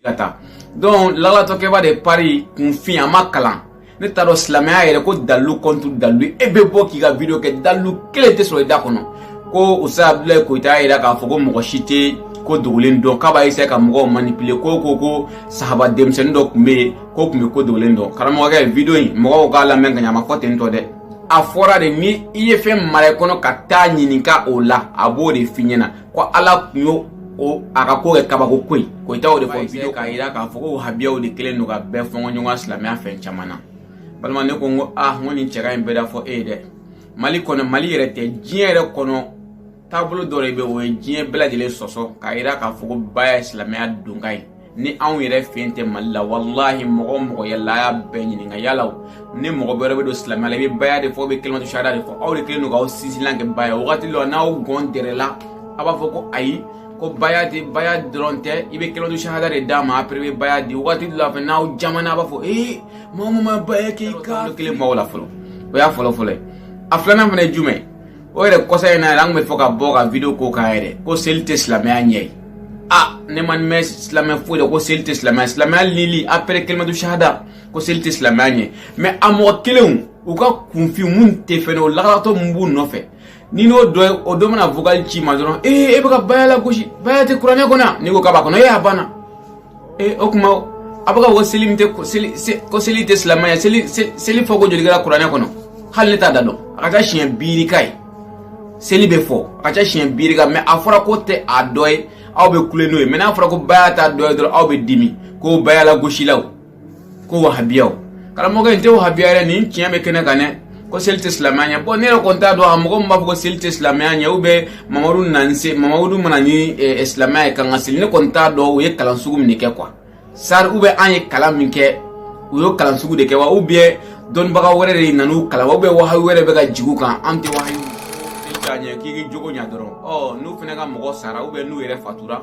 ka taa donc lagalagatɔkɛba de paris kunfin a ma kalan ne t'a dɔn silamɛya yɛrɛ ko dalilu contre dalilu e bɛ bɔ k'i ka video kɛ dalilu kelen tɛ sɔrɔ i da kɔnɔ ko ustaz abdulayi koyita y'a yira k'a fɔ ko mɔgɔ si tɛ ko dogolen dɔn k'a b'a essayer ka mɔgɔw manipuler ko ko ko sahaba denmisɛnnin dɔ tun bɛ yen ko tun bɛ ko dogolen dɔn karamɔgɔkɛ video in mɔgɔw k'a lamɛn ka ɲɛ a ma fɔ ten tɔ dɛ a fɔra de ni i ye fɛn mara i kɔnɔ ka taa ɲininka o la a b'o de f'i ɲɛna ko ala tun y'o o a ka ko kɛ kabako koyi koyita y'o de fɔ video k'a jira k'a fɔ ko wahabiyaw de kelen don ka bɛɛ fɔnkɔ ɲɔgɔnya silamɛya fɛn caman na balima ne ko n ko ah n ko nin cɛka in bɛɛ da fɔ e ye dɛ mali kɔnɔ mali yɛrɛ tɛ diɲɛ yɛrɛ kɔnɔ taabolo dɔ de bɛ o ye diɲɛ bɛɛ lajɛlen sɔsɔ k'a jira k'a fɔ ko baya ye silamɛya donkan ye ni anw yɛrɛ fɛ yen tɛ mali la walahi mɔgɔ o mɔgɔ yala a y'a bɛɛ ɲininka yala ni mɔgɔ bɛrɛ bɛ don silamɛya la i bɛ baya de fɔ i bɛ kelimatu sahada de fɔ aw de kelen don k'aw sinsinlan kɛ baya wagati dɔ n'aw gɔn dɛrɛla a b'a fɔ ko ayi ko baya tɛ baya dɔrɔn tɛ i bɛ kelimatu sahada de d'a ma après bɛ baya di wagati dɔ la fana n'aw jamana a b'a fɔ ee mɔgɔ min ma baya k'i ka kelen maaw la fɔlɔ o y'a fɔlɔ fɔlɔ ye a filanan fana ye jumɛn o yɛrɛ kɔsa in na yɛrɛ an kun bɛ fɛ ka bɔ ka video k'o kan yɛrɛ ko seli tɛ silamɛya ɲɛ ye a ne ma mɛn silamɛya foyi la ko seli tɛ silamɛya silamɛya lili après kelimatu sahada ko seli tɛ silamɛya ɲɛ mais a mɔgɔ kelenw u ka kunfin mun tɛ fɛn dɔn lagalagatɔ mun b'u nɔfɛ ni n'o dɔ ye o dɔ mana vocal ci i ma dɔrɔn ee e bɛ ka baya lagosi baya tɛ kuranɛ kɔnɔ n'i ko k'a b'a kɔnɔ ee a banna ee o tuma a bɛ k'a fɔ ko seli min tɛ ko seli ko seli tɛ silamɛya seli seli fɔko joli kɛra kuranɛ kɔnɔ hali ne t'a da dɔn a ka ca siɲɛ bi yirika ye seli bɛ fɔ a ka ca siɲɛ bi yirika mais a fɔra k'o tɛ a dɔ ye aw bɛ kule n'o ye mais n'a fɔra ko baya t'a dɔ ye dɔrɔn aw bɛ dimi ko baya lagosilaw ko wahabiyaw karamɔgɔkɛ n tɛ wahabiya yɛrɛ nin tiɲɛ bɛ kɛnɛ kan dɛ ko seli tɛ silamɛya ɲɛ bon ne yɛrɛ kɔni t'a dɔn a mɔgɔ min b'a fɔ ko seli tɛ silamɛya ɲɛ u bɛ mamadu nani se mamadu ma na ni eh, eh, silamɛya ye k'an ka seli ne kɔni t'a dɔn u ye kalan sugu min de kɛ quoi sari u bɛ an ye kalan min kɛ u y'o kalan sugu de kɛ wa u bɛ dɔnnibaga wɛrɛ de nan'u kalan wa u bɛ wahayu wɛrɛ bɛ ka jigi u kan an tɛ wahayu k'a ɲɛ k'i k'i jogo ɲɛ dɔrɔn ɔ n'u fana ka mɔgɔ sara n'u yɛrɛ fatura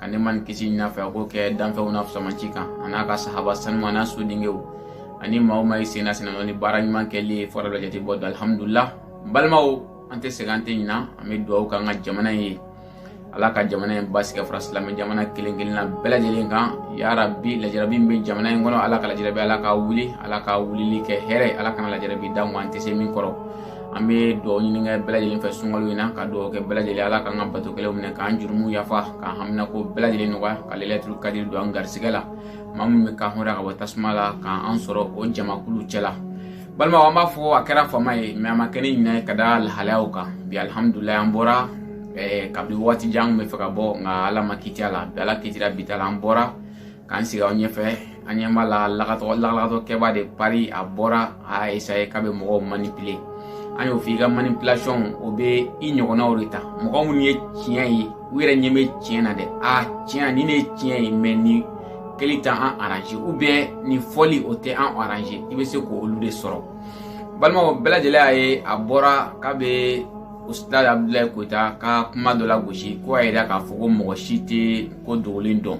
ka nɛɛma ni kisi ɲin'a fɛ a k'o kɛ danfɛnw na fisamanci kan a n'a ka sahaba saniman n'a sodengew ani maa o maa y'i sen d'a sennɔ ni baara ɲuman kɛli ye fo jatebɔ don alihamudulila balimaw an tɛ sɛgɛn an tɛ ɲina an bɛ dugawu k'an ka jamana in ye ala ka jamana in basigi ka fara silamɛ jamana kelen kelenna bɛɛ lajɛlen kan yarabi lajarabi min bɛ jamana in kɔnɔ ala ka lajarabi ala k'a wuli ala k'a wulili kɛ hɛrɛ ala kana lajarabi da an tɛ se min kɔrɔ an bɛ dugawu ɲini kɛ bɛɛ lajɛlen fɛ sunkalo in na ka dugawu kɛ bɛɛ lajɛlen ala k'an ka bato kɛlenw minɛ k'an jurumu yafa k'an haminanko bɛɛ lajɛlen nɔgɔya ka lɛlɛtuli kadiri don an garisigɛ la maa min bɛ ka hɔrɔnya ka bɔ tasuma la k'an sɔrɔ o jamakulu cɛla balimaw an b'a fɔ a kɛra faama ye mais a ma kɛ ni ɲinɛ ye ka da lahalayaw kan bi alihamudulayi an bɔra kabini waati jan an kun bɛ fɛ ka bɔ nka ala ma kiti a la bi ala kitira bi ta la an bɔra k'an sigi aw ɲɛfɛ an ɲɛ b'a la lagatɔ kɛba de pari a bɔra a y'a esaye k'a bɛ mɔgɔw manipile an y'o f'i ka manipulation o bɛ i ɲɔgɔnnaw de ta mɔgɔ minnu ye tiɲɛ ye u yɛrɛ ɲɛ bɛ tiɲɛ na dɛ a tiɲɛ ni ne ye tiɲɛ ye mɛ nin kɛli tɛ an aranze ou bien nin fɔli o tɛ an aranze i bɛ se k'olu de sɔrɔ balimaw bɛɛ lajɛlen y'a ye a bɔra k'a bɛ usitazi abudulayi koyita ka kuma dɔ lagosi ko a yira k'a fɔ ko mɔgɔ si tɛ ko dogolen dɔn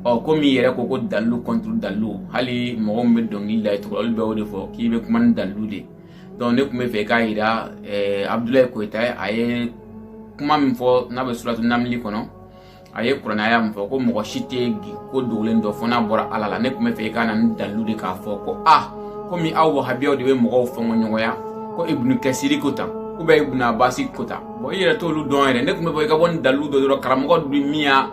ɔ komi i yɛrɛ ko ko dalilu kɔnturu dalilu hali mɔgɔ min bɛ dɔnkili da cogo olu bɛ o de fɔ k'i bɛ kuma ni dalilu de donc ne tun b'a fɛ k'a jira eh, abudulayi koyita a ye kuma min fɔ n'a bɛ suratu namili kɔnɔ a ye kuranɛ aya min fɔ ko mɔgɔ si tɛ ko dogolen dɔn fo n'a bɔra ala la ne tun b'a fɛ i ka na ni dalilu de k'a fɔ ko a komi aw wahabiyaw de bɛ mɔgɔw fɔnkɔɲɔgɔnya ko ibunu kasiri ko tan ou bien ibunu abasi ko tan bɔn i yɛrɛ t'olu dɔn yɛrɛ ne tun b'a fɛ i ka bɔ ni dalilu dɔ dɔrɔn karamɔgɔ jumɛn y'a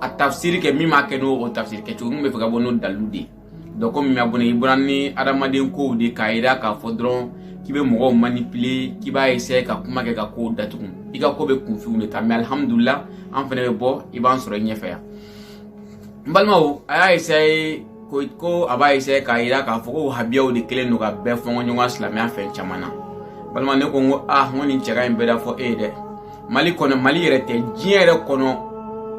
a tafisiri kɛ min b'a kɛ n'o o tafisiri kɛ cogo n b'a fɛ ka bɔ n'o dalilu de ye donc komi mɛ bɔnɛ i bɔra ni adamaden kow de k'a jira k'a fɔ dɔrɔn k'i bɛ mɔgɔw manipuler k'i b'a essayer ka kuma kɛ ka kow datugu i ka ko bɛ kunfinw de ta mɛ alihamudulila an fɛnɛ bɛ bɔ i b'an sɔrɔ i ɲɛfɛ yan n balimaw a y'a essayer ko ko a b'a essayer k'a jira k'a fɔ ko wahabiyaw de kelen don ka bɛɛ fɔnkɔɲɔgɔnya silamɛya fɛn caman na balima ne ko n ko ah n ko nin cɛ ka ɲi bɛɛ da fɔ e ye dɛ mali kɔnɔ mali yɛrɛ tɛ diɲɛ yɛrɛ kɔnɔ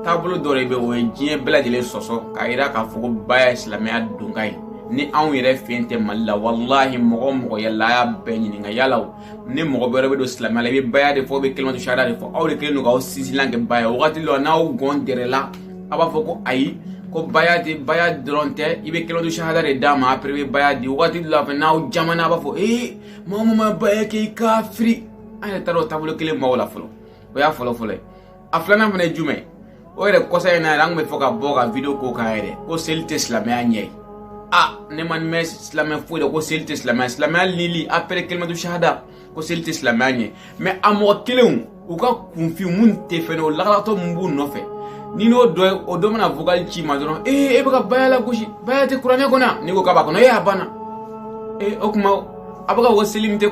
taabolo dɔ de bɛ o ye diɲɛ bɛɛ lajɛlen sɔsɔ k'a yira k'a fɔ ko baya ye silamɛya donkan ye ni anw yɛrɛ fɛn tɛ mali la walahi mɔgɔ mɔgɔ yaala a y'a bɛɛ ɲininka yala o ni mɔgɔ bɛrɛ bɛ don silamɛya la i bɛ baya de fɔ bɛ kalimatu sahada de fɔ aw de kelen don k'aw sinsinlan kɛ baya wagati dɔ n'aw gɔn dɛrɛla a b'a fɔ ko ayi ko baya de baya dɔrɔn tɛ i bɛ kalimatu sahada de d'a ma apɛrɛ i bɛ baya di wagati dɔ la fɛ n'aw jamanna a b'a fɔ ee mɔgɔ min ma baya kɛ i kafiri an yɛrɛ taara o taabolo kelen maaw la fɔlɔ o y'a fɔlɔ fɔlɔ ye a filanan fana ye jumɛn o yɛrɛ kɔsa in na yɛrɛ an tun b'a fɛ ka bɔ ka video k'o kan yɛrɛ ko seli tɛ silamɛya ɲɛ ye a ne m'a mɛn silamɛ foyi la ko seli tɛ silamɛya silamɛya lili apɛrɛ kalimatu sahada ko seli tɛ silamɛya ɲɛ mɛ a mɔgɔ kelenw u ka kunfin mun tɛ fɛnɛ o lakalatɔ mun b'u nɔfɛ ni n'o dɔ ye o dɔ mana vocal ci n ma dɔrɔn ee e bɛ ka baya lagosi baya tɛ kuranɛ kɔnɔ yan n'i ko k'a b'a kɔnɔ ee a banna ee o tuma a bɛ ka ko seli tɛ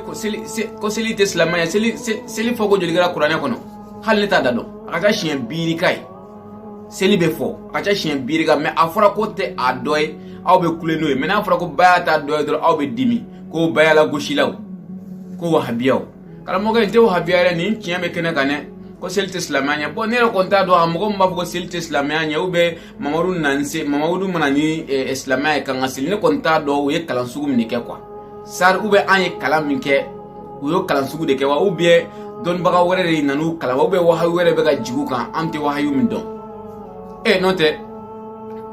ko seli tɛ silamɛya seli seli fɔ ko joli kɛra kuranɛ kɔnɔ hali ne t'a da dɔn a ka ca siɲɛ bi yirika ye seli bɛ fɔ a ka ca siɲɛ bi yirika mɛ a fɔra k'o tɛ a dɔ ye aw bɛ kule n'o ye mɛ n'a fɔra ko baya t'a dɔ ye dɔrɔn aw bɛ dimi ko baya lagosilaw ko wahabiyaw karamɔgɔkɛ n tɛ wahabiya yɛrɛ nin tiɲɛ bɛ kɛnɛ kan dɛ ko seli tɛ silamɛya ɲɛ bɔn ne yɛrɛ kɔni t'a dɔn a mɔgɔ min b'a fɔ ko seli tɛ silamɛya ɲɛ u bɛ mamadu nana se mamadu ma na ni eh, silamɛya ye k'an ka seli ne kɔni t'a dɔn u ye kalan sugu min de kɛ kuwa sari ubiyɛn an ye kalan min kɛ u y'o kalan sugu de kɛ wa ubiyɛn dɔnnibaga wɛrɛ de nana u kalan wa ubiyɛn wahayu wɛrɛ bɛ ka jigi u kan an tɛ wahayu min dɔn e eh, n'o tɛ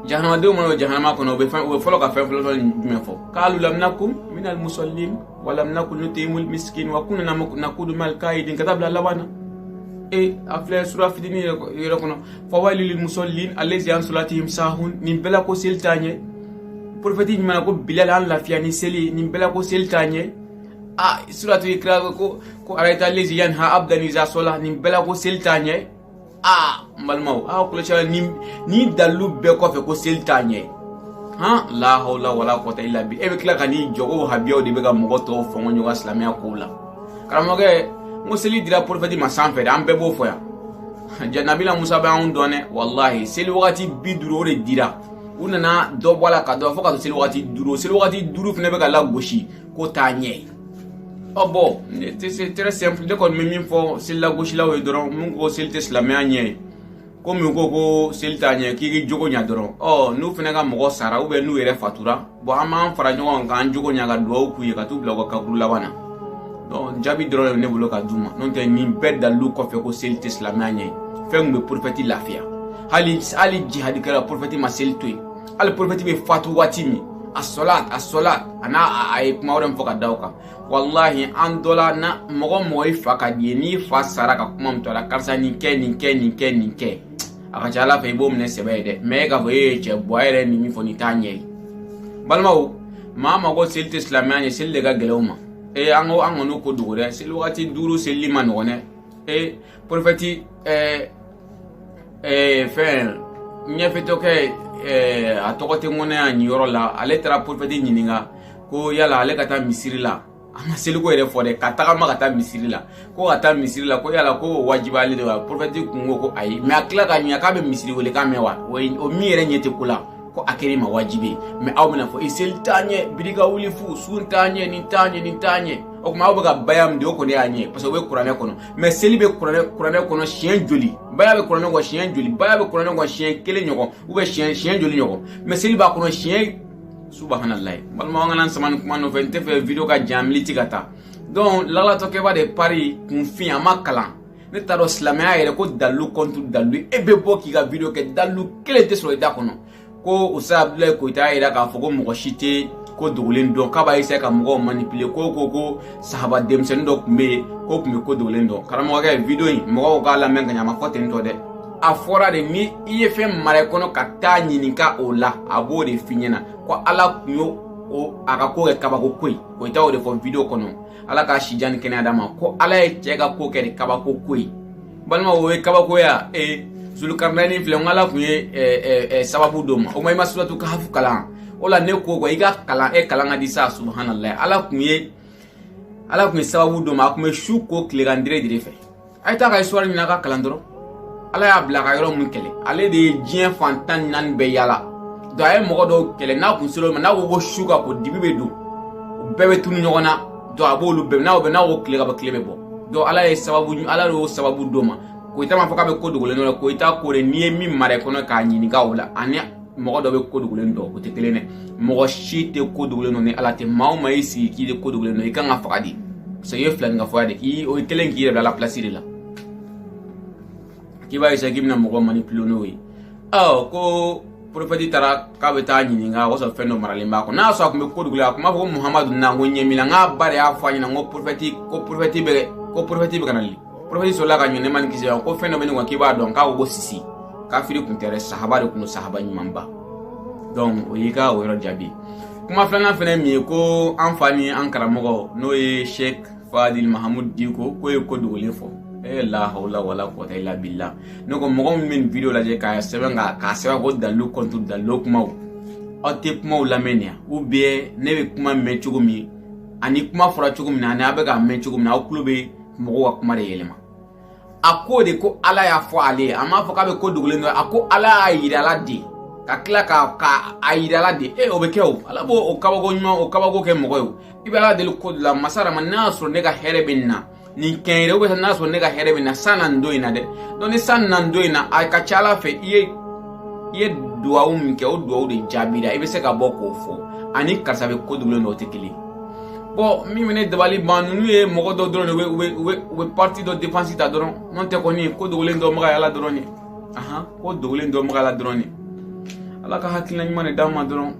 jahanamadenw mana don jahanama kɔnɔ u bɛ fɛn u bɛ fɔlɔ ka fɛn fɔlɔ fɔlɔ jumɛn fɔ kalu lam naku minal musallin wa lam naku nutimul miskin wa kunna nakudu mal kaidin ka taa bila laban na e eh, a filɛ sura fitinin yɛrɛ kɔnɔ fawaylu lil musallin allazi an salatihim sahun nin bɛɛ la ko seli t'a ɲɛ porofɛti ɲuman ko bilal an lafiya ni seli nin bɛɛ la ko seli t'a ɲɛ a suratu ikra ko ko arayita allazi yanha abdan iza sala nin bɛɛ la ko seli t'a ɲɛ a n balimaw a kɔlɔsi la nin nin dalilu bɛɛ kɔfɛ ko seli t'a ɲɛ han la hawla wala quwwata illa billah e bɛ tila ka n'i jɔ ko wahabiyaw de bɛ ka mɔgɔ tɔw fɔngɔ ɲɔgɔn silamɛya kow la karamɔgɔkɛ n ko seli dira porofɛti ma sanfɛ de an bɛɛ b'o fɔ yan jaa nabila musa bɛ anw dɔn dɛ walahi seli wagati bi duuru o de dira u nana dɔ bɔ a la ka dɔ fo ka to seli wagati duuru seli wagati duuru fana bɛ ka lagosi ko t'a ɲɛ ye ɔ bɔn c'est très simple ne kɔni bɛ min fɔ seli lagosilaw ye dɔrɔn min ko seli tɛ silamɛya ɲɛ ye ko min ko ko seli t'a ɲɛ k'i k'i jogo ɲa dɔrɔn ɔ n'u fana ka mɔgɔ sara ubiyɛn n'u yɛrɛ fatura bɔn an b'an fara ɲɔgɔn kan k'an jogo ɲa ka duwawu k'u ye ka t'u bila u ka kaburu laban na donc jaabi dɔrɔn de bɛ ne bolo ka d'u ma n'o tɛ nin bɛɛ dalilu kɔfɛ ko seli tɛ silamɛya ɲɛ ye fɛn min bɛ porofɛti lafiya hali hali jihadikɛ la porofɛti ma seli to yen hali porofɛti bɛ fatu waati min asɔlat asɔlat a n'a a ye kuma wɛrɛ min fɔ ka da o kan walahi an dɔ la na mɔgɔ mɔgɔ i fa ka di i ye n'i fa sara ka kuma min to a la karisa nin kɛ nin kɛ nin kɛ nin kɛ a ka ca la fɛ i b'o minɛ sɛbɛ ye dɛ mɛ e k'a fɔ e ye cɛ buwa yɛrɛ ni min fɔ nin t'a ɲɛ ye balimaw maa min ko seli tɛ silamɛya ɲɛ seli de ka gɛlɛn u ma ee an ko an kana ko dogo dɛ seli wagati duuru selili man nɔgɔn dɛ ee porofɛti ɛɛ ɛɛ fɛn ɲɛfiyentɔkɛ ɛɛ a tɔgɔ tɛ n kɔnɔ yan nin yɔrɔ la ale taara porofɛti ɲininka ko yala ale ka taa misiri la a ma seliko yɛrɛ fɔ dɛ ka tagama ka taa misiri la ko ka taa misiri la ko yala ko wajibiyalen de wa porofɛti kun ko ko ayi mɛ a tila k'a ɲininka k'a bɛ misiri welekan mɛn wa o min yɛrɛ ɲɛ tɛ ko la ko a kɛra i ma wajibi ye mɛ aw bɛna fɔ i seli t'a ɲɛ biri ka wuli fu sun t'a ɲɛ nin t'a ɲɛ nin t'a ɲɛ o tuma aw bɛ ka baya min di o kɔni y'a ɲɛ parce que o bɛ kuranɛ kɔnɔ mɛ seli bɛ kuranɛ kuranɛ kɔnɔ siɲɛ joli baya bɛ kuranɛ kɔnɔ siɲɛ joli baya bɛ kuranɛ kɔnɔ siɲɛ kelen ɲɔgɔn ubiyɛn siɲɛ siɲɛ joli ɲɔgɔn mɛ seli b'a kɔnɔ siɲɛ subahanallahi balima an kana sama nin kuma nɔfɛ n t'a fɛ video ka jan miniti ka taa donc lagalatɔkɛba de pari kunfin a ma kalan ne t'a dɔn silamɛya yɛrɛ ko dalilu contre dalilu e bɛ bɔ k'i ka video kɛ dalilu kelen tɛ sɔrɔ i da kɔnɔ ko ustaz abdulayi koyita y'a yira k'a fɔ ko mɔgɔ si tɛ ko dogolen dɔn k'a b'a eseye ka mɔgɔw manipule ko ko ko sahaba denmisɛnnin dɔ tun bɛ yen k'o tun bɛ ko dogolen dɔn karamɔgɔkɛ video in mɔgɔw k'a lamɛn ka ɲɛ a ma fɔ ten tɔ dɛ a fɔra de ni i ye fɛn mara i kɔnɔ ka taa ɲininka o la a b'o de f'i ɲɛna ko ala kun y'o o a ka ko kɛ kabako ko ye koyita y'o de fɔ video kɔnɔ ala k'a si jan ni kɛnɛya d'a ma ko ala ye cɛ ka ko kɛ de kabako ko ye balima o ye kabako ye a ee zulukarinani filɛ n ko ala kun ye eh, eh, sababu d'o ma o ma i ma suratu kahafu kalan o la ne ko ko i ka kalan e kalan ka di sa subhanalayi ala kun ye ala kun ye sababu d'o ma a kun bɛ su ko tilegan dire dire fɛ a ye taa ka histoire ɲini a ka kalan dɔrɔn ala y'a bila ka yɔrɔ min kɛlɛ ale de ye diɲɛ fan tan ni naani bɛɛ yala donc a ye mɔgɔ dɔw kɛlɛ n'a kun sera o ma n'a ko ko su ka ko dibi bɛ don u bɛɛ bɛ tunu ɲɔgɔn na donc a b'olu bɛɛ n'a bɛ n'a ko tile ka bɔ tile bɛ bɔ donc ala ye sababu ala y'o sababu d'o ma koyita m'a fɔ k'a bɛ ko dogolen dɔn la koyita ko de n'i ye min mara i kɔnɔ k'a ɲininka o la ani mɔgɔ dɔ bɛ ko dogolen dɔn o tɛ kelen dɛ mɔgɔ si tɛ ko dogolen dɔn ni ala tɛ maa o maa y'i sigi k'i de ko dogolen dɔn i kan ka faga de parce que i ye filaninkafo de kɛ o ye kelen k'i yɛrɛ bila ala pilasi de la k'i b'a k'i bɛna mɔgɔ manipuler n'o ye ɔ ko porofɛti taara k'a bɛ taa ɲininka o sɔrɔ fɛn dɔ maralen b'a kɔnɔ n'a sɔrɔ a tun bɛ ko dogolen a tun b'a fɔ ko muhamadu na ko ɲɛ min na n k'a ba de y'a fɔ a ɲɛna ko porofɛti ko porofɛti bɛ ko porofɛti bɛ ka na li porofɛti sɔrɔla k'a ɲini nɛɛma ni kisi ko fɛn dɔ bɛ ne kɔnɔ k'i b'a dɔn k'a ko ko sisi kafiri kun tɛ dɛ sahaba de kun don sahaba ɲumanba donc o y'i ka o yɔrɔ jaabi kuma filanan fɛnɛ min ye ko an fa ni an karamɔgɔ n'o ye sheikh fadil mahamud diko k'o ye ko dogolen fɔ e la hawla wala quwwata illa billah ne ko mɔgɔ min bɛ nin video lajɛ k'a sɛbɛn ka k'a sɛbɛn ko dalilu contre dalilu kumaw aw tɛ kumaw lamɛn nin ya ou bien ne bɛ kuma mɛn cogo min ani kuma fɔra cogo min na ani aw bɛ k'a mɛn cogo min na aw tulo bɛ mɔgɔw ka kuma de yɛlɛma a ko de ko ala y'a fɔ ale ye a m'a fɔ k'a bɛ ko dogolen dɔn a ko ala y'a yira ala de ka tila ka ka a yira ala de e o bɛ kɛ o ala b'o o kabako ɲuman o kabako kɛ mɔgɔ ye o i bɛ ala deli ko de la masa dama n'a y'a sɔrɔ ne ka hɛrɛ bɛ nin na nin kɛ n ye dɛ ou bien n'a sɔrɔ ne ka hɛrɛ bɛ na san na nin don in na dɛ donc ni san na nin don in na a ka ca ala fɛ i ye i ye duwawu min kɛ o duwawu de jaabira i bɛ se ka bɔ k'o fɔ ani karisa bɛ ko dogolen dɔn o tɛ kelen ye bɔn min bɛ ne dabali ban ninnu ye mɔgɔ dɔ dɔrɔn de u bɛ u bɛ u bɛ parti dɔ défense ta dɔrɔn n'o tɛ kɔni ko dogolen dɔnbaga ye ala dɔrɔn de ahan ko dogolen dɔnbaga ala dɔrɔn de ala ka hakilina ɲuman de d'an ma dɔrɔn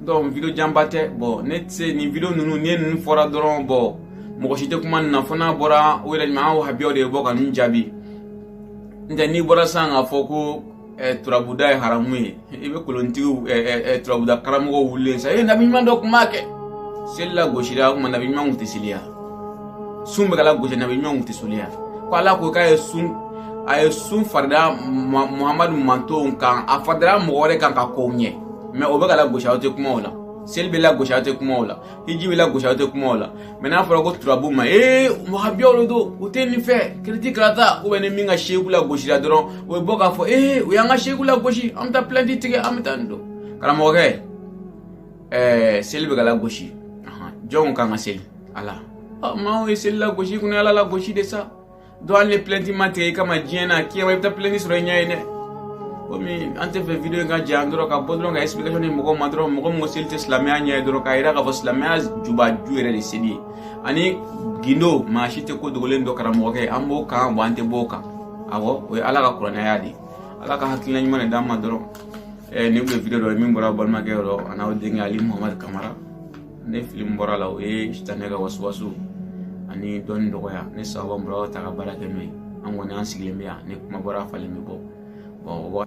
donc video janba tɛ bɔn ne tɛ se nin video ninnu ni ninnu fɔra dɔrɔn bɔn mɔgɔ si tɛ kuma nin na fo n'a bɔra o yɛrɛ ɲuman an wahabiyaw de bɔ ka ninnu jaabi n'o tɛ n'i bɔra sisan k'a fɔ ko turabuda ye haramu ye i bɛ kolontigiw turabuda karamɔgɔw wulilen sa e nabi ɲuman dɔ tun b'a kɛ seli lagosira o tuma nabi ɲuman tun tɛ seli ya sun bɛ ka lagosi nabi ɲuman tun tɛ seli ya ko ala ko k'a ye sun a ye sun farida muhamadu mantonw kan a faridara mɔgɔ wɛrɛ kan ka kɔn u ɲɛ mais o bɛ ka lagosi aw tɛ kuma o la seli bɛ lagosi aw tɛ kuma o la hiji bɛ lagosi aw tɛ kuma o la mɛ n'a fɔra ko turabu ma ee wahabiyaw de don u tɛ nin fɛ kiriti karata ubiyɛn ni min ka seku lagosira dɔrɔn o bɛ bɔ k'a fɔ ee u y'an ka seku lagosi an bɛ taa plɛnti tigɛ an bɛ taa nin don karamɔgɔkɛ ɛɛ seli bɛ ka lagosi jɔn k'an ka seli ala maaw ye seli lagosi kun ye ala lagosi de sa donc hali ni plɛnti ma tigɛ i kama diɲɛ na kiyama i bɛ taa plɛnti sɔrɔ i ɲɛ yen dɛ komi an tɛ fɛ video in ka janya dɔrɔn ka bɔ dɔrɔn ka explication di mɔgɔw ma dɔrɔn mɔgɔ min ko seli tɛ silamɛya ɲɛ ye dɔrɔn k'a yira k'a fɔ silamɛya jubaju yɛrɛ de seli ye ani gindo maa si tɛ ko dogolen dɔn karamɔgɔkɛ an b'o kan wa an tɛ b'o kan awɔ o ye ala ka kuranɛ aya de ye ala ka hakilina ɲuman de d'an ma dɔrɔn nin tun ye video dɔ ye min bɔra balimakɛ yɔrɔ an'aw denkɛ ali muhamadu kamara ni fili min bɔra a la o ye sitanɛ ka wasuwasu ani dɔnni dɔgɔya ni sawabu bɔra o ta ka baara kɛ n'o ye an kɔni an sigilen bɛ yan ni kuma bɔra a falen bɛ bɔ